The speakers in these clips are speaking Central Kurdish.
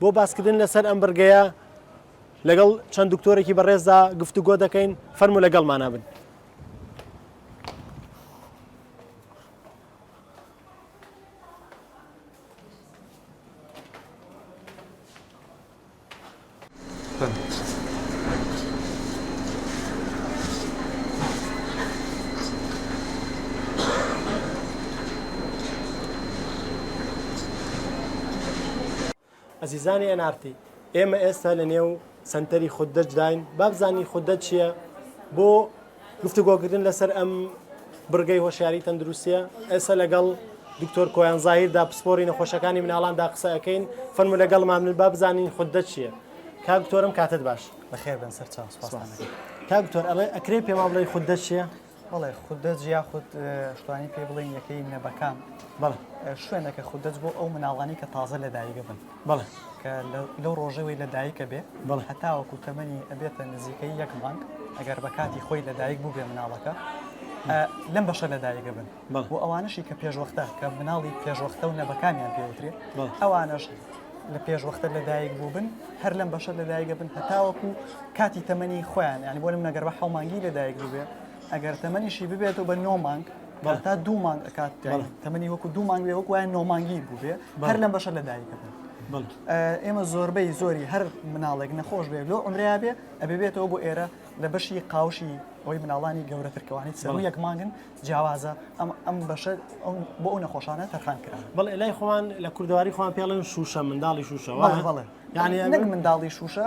بۆ باسکردن لەسەر ئەم بڕگەیە لەگەڵ چەند دکتۆرێکی بەڕێزدا گفتوگۆ دەکەین فەرمو لەگەڵمانە بن. ئەزیزانی ئێن ئارتی ئێمە ئێستا لە نێو سەنتەری خوددەجداین بابزانین خوددە چییە بۆ گفتوگۆکردن لەسەر ئەم بڕگەی هۆشیاری تەندروستیە ئێستا لەگەڵ دکتۆر کۆیان زاهیردا پسپۆری نەخۆشەکانی مناڵاندا قسەکەین فەرمو لەگەڵ مامن با بزانین خوددە چییە کاکتۆرم کاتت باش بەخێر بن سەر چاو کاکتۆر ئەڵێ ئەکرێ پێما بڵێ خوددە چییە بەڵێ خوددە جیا خود شتوانی پێ بڵێن یەکەی منەبەکان بەڵ شوێنەکە خوددەج بۆ ئەو مناڵانی کە تازە لە دایگە بن بەڵێ کە لەو ڕۆژەوەی لە دایکە بێ بەڵ هەتاوەکو تەمەنی ئەبێتە نزیکەی یەک مانگ ئەگەر بە کاتی خۆی لە دایک بوو بێ مناڵەکە لەم بەشە لە دایگە بن بۆ ئەوانشی کە پێشوەختە کە مناڵی پێشوەختە و نەبەکانیان پێوترێ ئەوانش لە پێشوەختە لە دایک بوو بن هەر لەم بەشە لە دایگە بن هەتاوەکو کاتی تەمەنی خۆیان ینی بۆ لەم نەگەر بە حومانگی لە دایک بووێ ئەگەر تەمەنیشی ببێتەوە بە نۆ مانگ بەڵ تا دوو مانگ ئەکات تەمەنی وەکو دوو مانگ بێ وەکوایە نۆمانگی بووێ هەر لەم بەشە لە دایکە بێت ئێمە زۆربەی زۆری هەر مناڵێک نەخۆش بێ لۆ عمریا بێ ئەبێ بێتەوە بۆ ئێرە لە بەشی قاوشی ئەوی مناڵانی گەورەترکەوانی سەر یەک مانگن جیاوازە ئەم ئەم بەشە بۆ ئەو نەخۆشانە تەرخان کرا بڵ لای خۆوان لە کوردواری خۆوان پێڵێن شوشە منداڵی شوشەوە بڵێ یعنی نەک منداڵی شوشە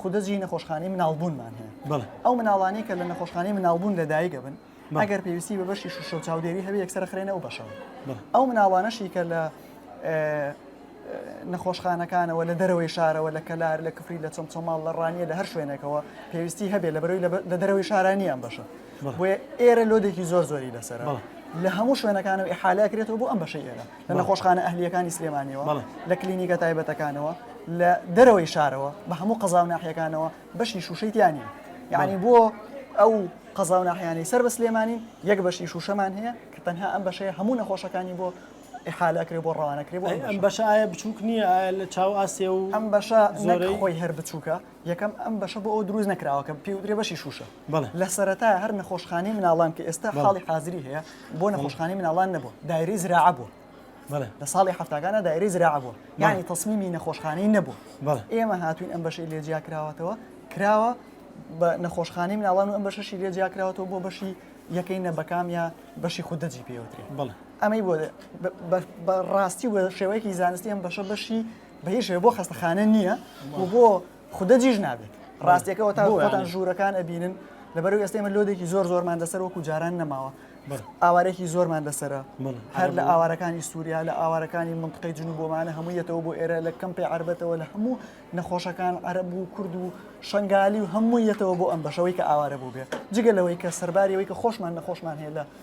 خودجی نەخۆشخانەی مناڵبوونمان هەیە ئەو مناڵانی کە لە نەخۆشخانەی مناڵبوون لە دایکە بن ئەگەر پێویستی بە بەشی شوشە و چاودێری هەبێ یەکسەر خرێنە و بەشەوە ئەو مناڵانەشی کە لە نەخۆشخانەکانەوە لە دەرەوەی شارەوە لە کەلار لە کفری لە چەمچەماڵ لە ڕانیە لە هەر شوێنێکەوە پێویستی هەبێ لە بەرەوەی لە دەرەوەی شارانیان بەشە بۆیە ئێرە لۆدێکی زۆر زۆری لەسەر لە هەموو شوێنەکانەوە حالەکرێتەوە بۆ ئەم بەشە ئێرە لە نەخۆشخانە ئەهلیەکانی سلێمانیەوە لە کلینیکە تایبەتەکانەوە لە دەرەوەی شارەوە بە هەموو قەزا و ناحیەکانەوە بەشی شوشەی تیانی یعنی بۆ ئەو قەزا و ناحیانی سەر بە سلێمانی یەک بەشی شوشەمان هەیە کە تەنها ئەم بەشەیە هەموو نەخۆشەکانی بۆ حالەکرێ بۆ ڕوانەکرێ بۆ ئەم بەشایە بچووک نییە لە چاو ئاسێ و ئەم بەشە زۆرەی خۆی هەر بچووکە یەکەم، ئەم بەشە بۆ ئەوە دروست نەکراوە کە پێی وترێ بەشی شووشە. بەڵێ. لە سەرەتایە هەر نەخۆشخانەی مناڵان کە ئێستا حاڵی حازری هەیە، بۆ نەخۆشخانەی مناڵان نەبووە، دایرەی زراعە بووە. بەڵێ. لە ساڵی هەفتاکانە دایرەی زراعە بووە. یانی تەسمیمی نەخۆشخانەی نەبووە. بەڵێ. ئێمە هاتووین ئەم بەشەی لێ جیا کراوەتەوە، کراوە بە نەخۆشخانەی مناڵان و ئەم بەشەشی لێ جیا کراوەتەوە بۆ بەشی یەکەی نەبەکام یا بەشی خودەجی پێی وترێ. بەڵێ. ئەمەی بۆ بە ڕاستی و بە شێوەیەکی زانستی ئەم بەشە بەشی بە هیچ شێوە بۆ خەستەخانە نییە و بۆ خودە جیژ نابێت ڕاستیەکەەوە تا بۆ یان ژوورەکان ئەبینن لەبەرو ئێستا ئمە لۆدێکی زۆر زۆرمان دەسەر وەکو جاران نەماوە ئاوارێکی زۆرمان دەسرە هەر لە ئاوارەکانی سووریا لە ئاوارەکانی منطقی جن و بۆمانە هەموویەتەوە بۆ ئێرە لە کەم پێ عربەتەوە لە هەموو نەخۆشەکان عرب و کورد و شنگالی و هەموویەتەوە بۆ ئەم بەشەوەی کە ئاوارە بوو بێ جگە لەوەی کە سەرباریەوەی کە خۆشمان نەخۆشمان هەیە لە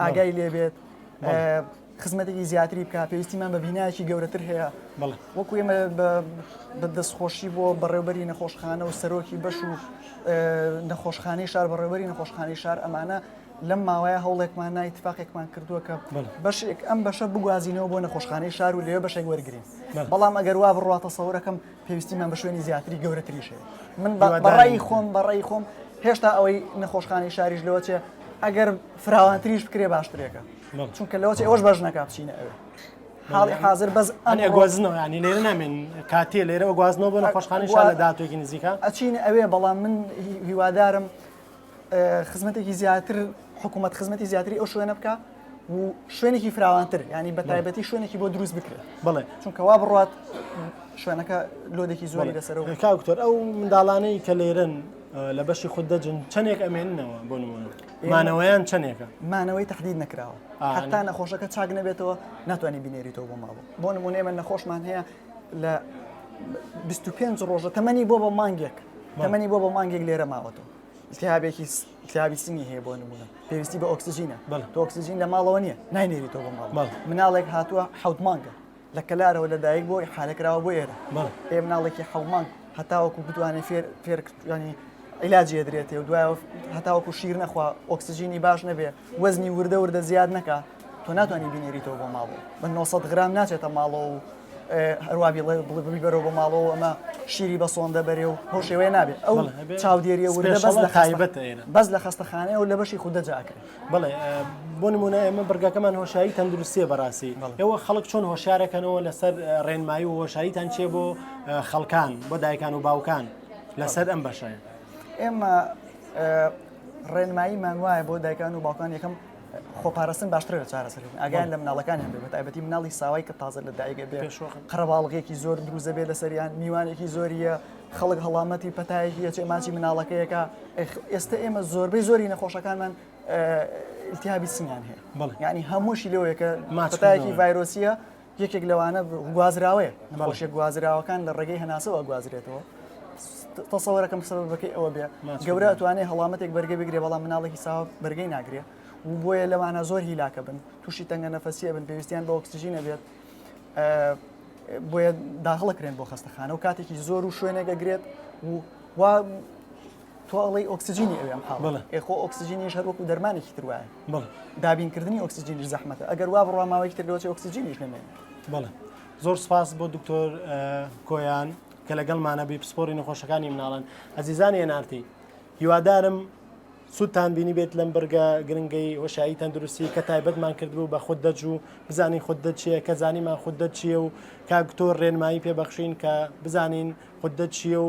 ئاگای لێبێت خزمەتێکی زیاتری بکە پێویستیمان بە بینایکی گەورەتر هەیە وەکو ئێمە بە دەستخۆشی بۆ بەڕێوبەری نەخۆشخانە و سەرۆکی بەش و نەخۆشخانەی شار بەڕێوبەری نەخۆشخانەی شار ئەمانە لەم ماوەیە هەوڵێکمان نایتفاقێکمان کردووە کە بەشێک ئەم بەشە بگوازینەوە بۆ نەخۆشخانەی شار و لێ بەشێک وەرگین بەڵام ئەگەر وا بڕاتە سەورەکەم پێویستیمان بە شوێنی زیاتری گەورەتریش هەیە من بەڕای خۆم بەڕای خۆم هێشتا ئەوەی نەخۆشخانەی شاریش لەوە چێ ئەگەر فراوانتریش بکرێ باشترێکە چونکە لەوە چێ ئەوش بەش نەکە بچینە ئەوێ حاڵی حاضر بەس ئەنێ گۆزنەوە ینی لێرە نامێن کاتێ لێرەوە گوازنەوە بۆ نەخۆشخانەی شار لە دااتێکی نزیکە ئەچین ئەوێ بەڵام من هیوادارم خزمەتێکی زیاتر حکوومەت خزمەتی زیاتری ئەو شوێنە بکە و شوێنێکی فراوانتر ینی بە تایبەتی شوێنێکی بۆ دروست بکرێت بڵێ چونکەوا بڕات شوێنەکە لۆدێکی زۆری لەسەر کاکتۆر ئەو منداڵانەی کە لێرن لە بەشی خود دەجن چەندێک ئەمێننەوە بۆ نمونە مانەوەیان چەندێکە مانەوەی تهدید نکراوە حتا نەخۆشەکە چاک نەبێتەوە ناتوانانی بینێریتەوە بۆ ماوە بۆ نمونێ من نەخۆشمان هەیە لە 25 ڕۆژە تەمەنی بۆ بە مانگێک تەمەنی بۆ بە مانگێک لێرە ماوەتەوە التهابێکیتهابی سنگی هەیە بۆ نمونە پێویستی بە ئۆکسسیژینە بەڵ تۆکسسیژین لە ماڵەوە نیە ناینێری تۆ بۆ ماڵ مناڵێک هاتووە حوت مانگە لە کەلارەوە لە دایک بۆی حالەکراوە بۆ ئێرە پێ مناڵێکی حومانگ هەتاوەکو بتوانێت فێر فێرکردنی عیلاجی درێتێ و دوای هەتاوەکو شیر نەخوا ئۆکسسیژینی باش نەبێ وەزنی وردە وردە زیاد نەکە تۆ ناتوانانی بینێریتەوە بۆ ماڵەوە بە 900 غرام ناچێتە ماڵەوە و هەروابی بڵێ بەرەوە بۆ ماڵەوە ئەمە شیری بە سۆندە بەرێ و هۆ شێوەیە نابێت ئەو چاودێریە وردە بەس لە تایبەت بەس لە خستەخانەیە و لە بەشی خوددە جاکرێت بڵێ بۆ نمونە ئێمە بڕگەکەمان هۆشایی تەندروستیە بەڕاستی ئەوە خەڵک چۆن هۆشارەکەنەوە لەسەر ڕێنمایی و هۆشاییتان چێ بۆ خەڵکان بۆ دایکان و باوکان لەسەر ئەم بەشەیە ئێمە ڕێنماییمان وایە بۆ دایکان و باوکان یەکەم خۆپارستن باشتر لە چارەسەرکردن ئاگیان لە مناڵەکانیان بێت بەتایبەتی مناڵی ساوای کە تازە لە دایگە بێ قەرەواڵغێکی زۆر دروزە بێ لە سەریان میوانێکی زۆریە خەڵک هەڵامەتی پەتایەکی چێ ماچی مناڵەکەیەکە ئێستا ئێمە زۆربەی زۆری نەخۆشەکانمان التهابی سنیان هەیە بەڵ ینی هەمووشی لەوەیەکە ماچتایەکی ڤایرۆسیە یەکێک لەوانە گوازراوەیە نەباوشێ گوازراوەکان لە ڕێگەی هەناسەوە گوازرێتەوە تەسەوەەکەم سەبەکەی ئەوە بێ گەورە توانێ هەڵامەتێک بەرگە بگرێ بەڵام مناڵێکی ساوە بەرگەی ناگرێ و بۆیە لەوانە زۆر هیلاکە بن تووشی تەنگە نەفەسیە بن پێویستیان بە ئۆکسسیژی نەبێت بۆیە داخڵەکرێن بۆ خستەخانە و کاتێکی زۆر و شوێنێکە گرێت و تۆ ئەڵی ئۆکسسیجینی ئەوێم پاڵ ئێ خۆ ئۆکسسیجینیش هەر وەکو دەرمانێکی تر وایە دابینکردنی ئۆکسسیجینی زەحمەتە ئەگەر وا بڕوا ماوەی تر لەوەی ئۆکسسیجینیش نمێن بڵێ زۆر سپاس بۆ دکتۆر کۆیان کە لەگەڵمانە بی پسپۆری نەخۆشەکانی مناڵن ئەزیزانی هێنارتی هیوادارم سوودتان بینی بێت لەم بەرگە گرنگەی وەشایی تەندروستی کە تایبەتمان کردبوو بە خود دەج و بزانین خود دەچیە کە زانیمان خود دەچیە و کاکتۆر ڕێنمایی پێبەخشین کە بزانین خود دەچیە و